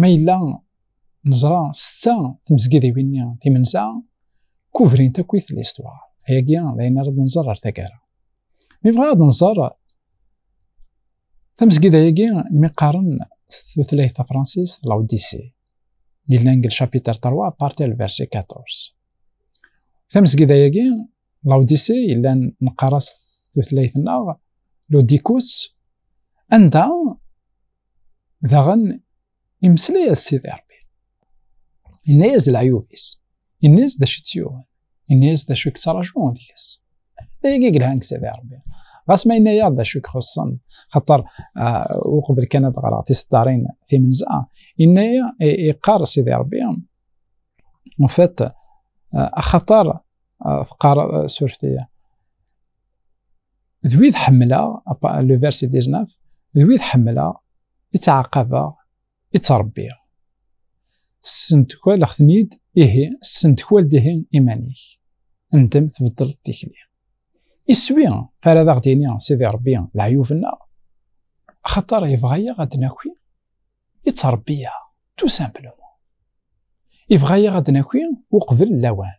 ma yella neẓra setta tmezgidiwin-nni timensa kubrint akkit listwar ayagi d ayen ara d-nẓer ar taggara mi bɣa ad nẓer tamezgida-agi mi qqaren s tutlayt tafransist la odyssey yellan deg lchapitre 3 parti al verset 14 tamezgida-agi la odyssey yellan neqqar-as tutlayt-nneɣ lodikos anda Daɣen imeslay-as Sidi Rebbi. Yenna-yas d leɛyub-is. Yenna-yas d acu i tt-yuɣen. Yenna-yas d acu i yettraǧu deg-s. D ayagi i yelhan deg Sidi Rebbi. Ɣas ma yenna-yaɣ d acu i ixuṣṣen, xaṭer ah, uqbel kan ad ɣreɣ tiseddarin timenza, yenna-yaɣ iqqar Sidi Rebbi, en fait, ah, axaṭer ah, teqqar suref-iyi, d wid ḥemmleɣ le verset 19 d wid ḥemmleɣ i ttɛaqabeɣ i ttṛebbiɣ ssentekwaleɣ-ten-id ihi ssentekwal-d ihi iman-ik ndem tbeddleḍ tikli iswi fara ad aɣ-d-yini sidi ṛebbi leɛyub-nneɣ axaṭer yebɣa-yaɣ ad d-naki i ttṛebbiyaɣ tout simplement yebɣa-yaɣ ad d-naki uqbel lawan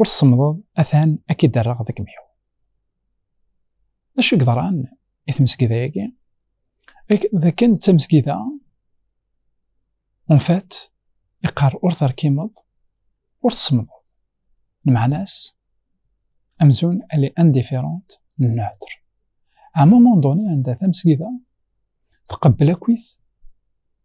ur tsemmḍeḍ atan ad k-id-rreɣ deg mḥu. D acu yeḍran i tmesgida-agi? D akken d tamesgida unfat iqqar ur terkimeḍ ur tsemmḍeḍ. Lmeɛna-s amzun elle est indifférente neutre. À un moment donné anda tamesgida tqebbel akkit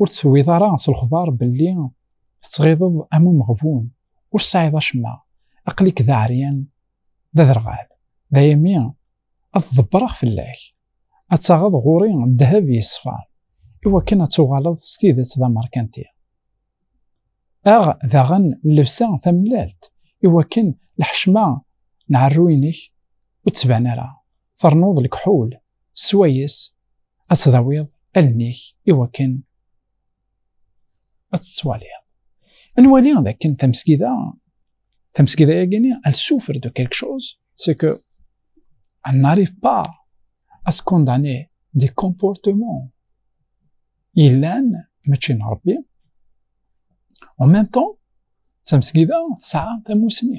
ur teswiḍ ara s lexbar belli tettɣiḍeḍ am umeɣbun ur tesɛiḍ acemma aql-ik d aɛeryan d aderɣal d ayami ad ḍebbreɣ fell-ak ad taɣeḍ ɣur-i ddheb yeṣfan iwakken ad tuɣaleḍ s tidet d amerkanti aɣ daɣen llebsa tamellalt iwakken lḥecma n ɛerru-inek ur d-tban ara ternuḍ lekḥul swayes ad tdawiḍ allen-ik i wakken ad tettwaliḍ nwali d akken tamesgida tamesgida yagini elle souffre de quelque chose c'est que elle n'arrive pas à se condamner des comportements yellan mačči n Rebbi en même temps tamesgida tesɛa tamussni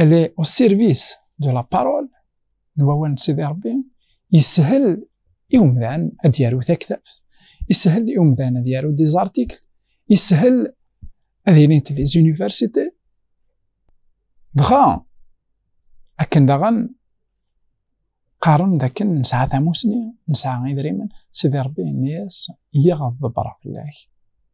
elle est au service de la parole n wawal n Sidi Rebbi yeshel i umdan ad yaru taktabt yeshel i umdan ad yaru des articles yeshel ad ilint les universités dɣa akken daɣen qqaren d akken nesɛa tamusni nesɛa idrimen Sidi Rebbi yenna-yas yiɣ ad ḍebreɣ fell-ak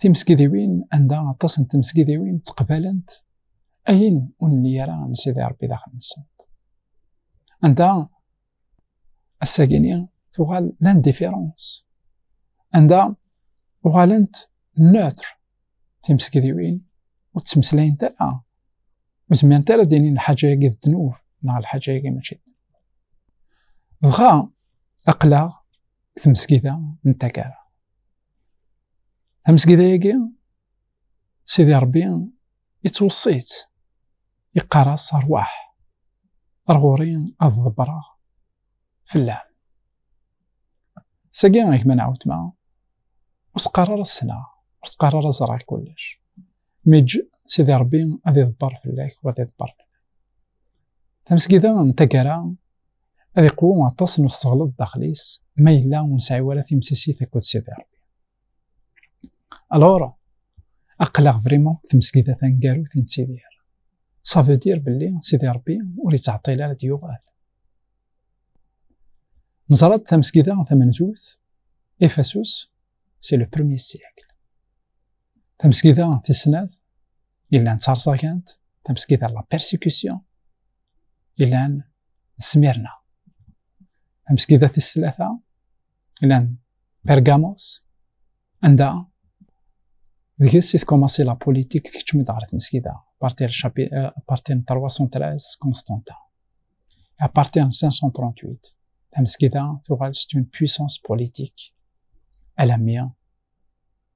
timesgidiwin anda aṭas n temesgidiwin ttqbalent ayen ur nli ara n Sidi Ṛebbi daxel-nsent. Anda ass-agini tuɣal l'indifférence. Anda uɣalent neutre timesgidiwin ur ttmeslayent ara. Ur zmirent ara d-inin lḥaǧa-agi d ddnub neɣ lḥaǧa-agi mačči d Dɣa aqlaɣ deg tmesgida n taggara. amezgida yagi sidi rebbi yettweṣṣi-tt yeqqar-as rwaḥ ar ɣur-i ad ḍebbreɣ fell-am sagi gma nɛawtma ur teqqar ara ssneɣ ur teqqar ara ẓriɣ kullec mi ǧǧ sidi rebbi ad iḍebber fell-ak wa ad iḍebber fell-ak tamesgida n taggara ad iqwu aṭas n useɣleḍ daxel-is ma yella ur nesɛi ara timsisit akked Sidi Rebbi. Alors, aql-aɣ vraiment tmesgida taneggarut i nettidir. Ça veut dire belli Sidi Rebbi ur yettɛeṭṭil ara ad yuɣal. Neẓra-d tamesgida tamenzut, Efesus, c'est le premier siècle. Tamesgida tis snat, Yellan ttaṛẓagant, tamesgit ar la persécution. Yellan nesmirna. Tamesgida tis tlata, yellan Pergamos, anda deg-s i tkumaṣi la politik tkeččem-d ɣer tmesgida, parti n 313 Constantin. À partir de 538, tamesgida tuɣal c'est une puissance politique alammi